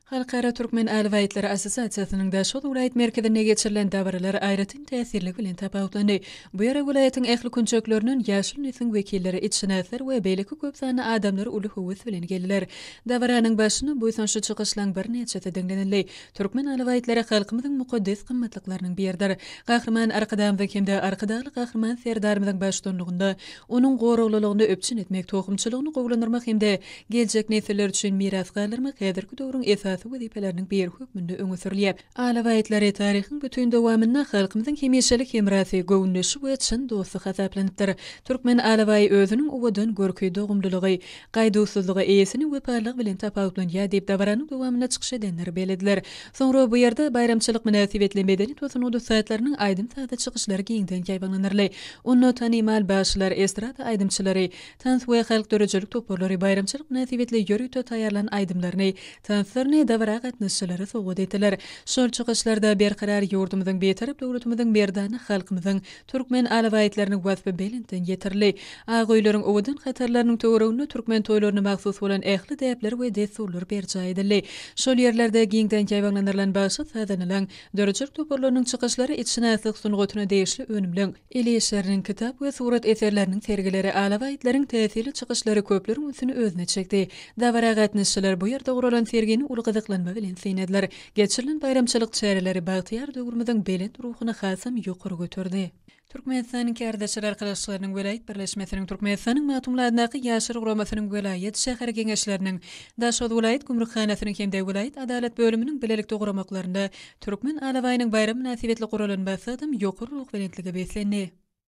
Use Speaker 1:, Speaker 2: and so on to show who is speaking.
Speaker 1: Halkara türkmen alybaýtlary assosiasiýasynyň-da şol welaýat merkezinde geçirilen dabaralar aýratyn täsirligi bilen tapawutlandy. Bu ýere welaýatyň ähli künjeklerinden ýaşyl nesliň wekilleri, itşynaslar we beýleki köp sanly adamlar uly höwes bilen geldiler. Dabaranyň başynda buýsançly çykyşlaryň birnäçesi diňlenildi. Türkmen alybaýtlary halkymyzyň mukaddes gymmatlyklarynyň biridir. Gahryman Arkadagymyzyň hem-de Arkadagly Gahryman Serdarymyzyň baştutanlygynda onuň goraglylygyny üpjün etmek, tohumçylygyny gowulandyrmak hem-de geljek nesiller üçin miras galdyrmak häzirki döwrüň esasy wezipeleriniň biri hökmünde öňe sürülýär. Alabaýtlary taryhyň bütin dowamynda halkymyzyň hemişelik hemrasy, göwündeşi we çyn dosty hasaplanypdyr. Türkmen alabaýy özüniň owadan görki, dogumlylygy, gaýduwsyzlygy, eýesiniň wepalylygy bilen tapawutlanýar diýip, dabaranyň dowamynda çykyş edenler bellediler. Soňra bu ýerde baýramçylyk mynasybetli medeni tosunat ussatlarynyň aýdym-sazly çykyşlary giňden ýaýbaňlanarly. Onda tanymal bagşylar, estrada aýdymçylary, Tans we halk döredijilik toparlary baýramçylyk mynasybetli ýörite taýýarlan aýdymlaryny, tanslaryny dabara gatnaşyjylara sowgat etdiler. Şol çykyşlarda Berkarar ýurdumyzyň, Bitarap döwletimiziň, merdana halkymyzyň, türkmen alabaýtlarynyň waspy belentden ýetirildi. Ak öýleriň owadan hatarlarynyň töwereginde türkmen toýlaryna mahsus bolan ähli däpler we dessurlar berjaý edildi. Şol ýerlerde giňden ýaýbaňlandyrylan bagşy-sazanalaň, döredijilik toparlarynyň çykyşlary itşynaslyk sungatyna degişli önümleň, el işleriniň, kitap we surat eserleriniň sergileri, alawa itleriniň täsirli çykyşlary köpleriň ünsüni özüne çekdi. Dabara gatnaşyjylar bu ýerde guralan sergini uly gyzyklanma bilen synladylar. Geçirilen baýramçylyk çäreleri bagtyýar döwrümiziň belent ruhuny hasam ýokary göterdi. Türkmenistanyň Kärdeşler arkalaşyklarynyň welaýat birleşmesiniň, Türkmenistanyň Magtymguly adyndaky Ýaşlar guramasynyň welaýat, şäher geňeşleriniň, Daşoguz welaýat gümrükhanasynyň hem-de welaýat adalat bölüminiň bilelikde guramaklarynda Türkmen alabaýynyň baýram mynasybetli guralan bassadam ýokary ruhubelentlige beslendi.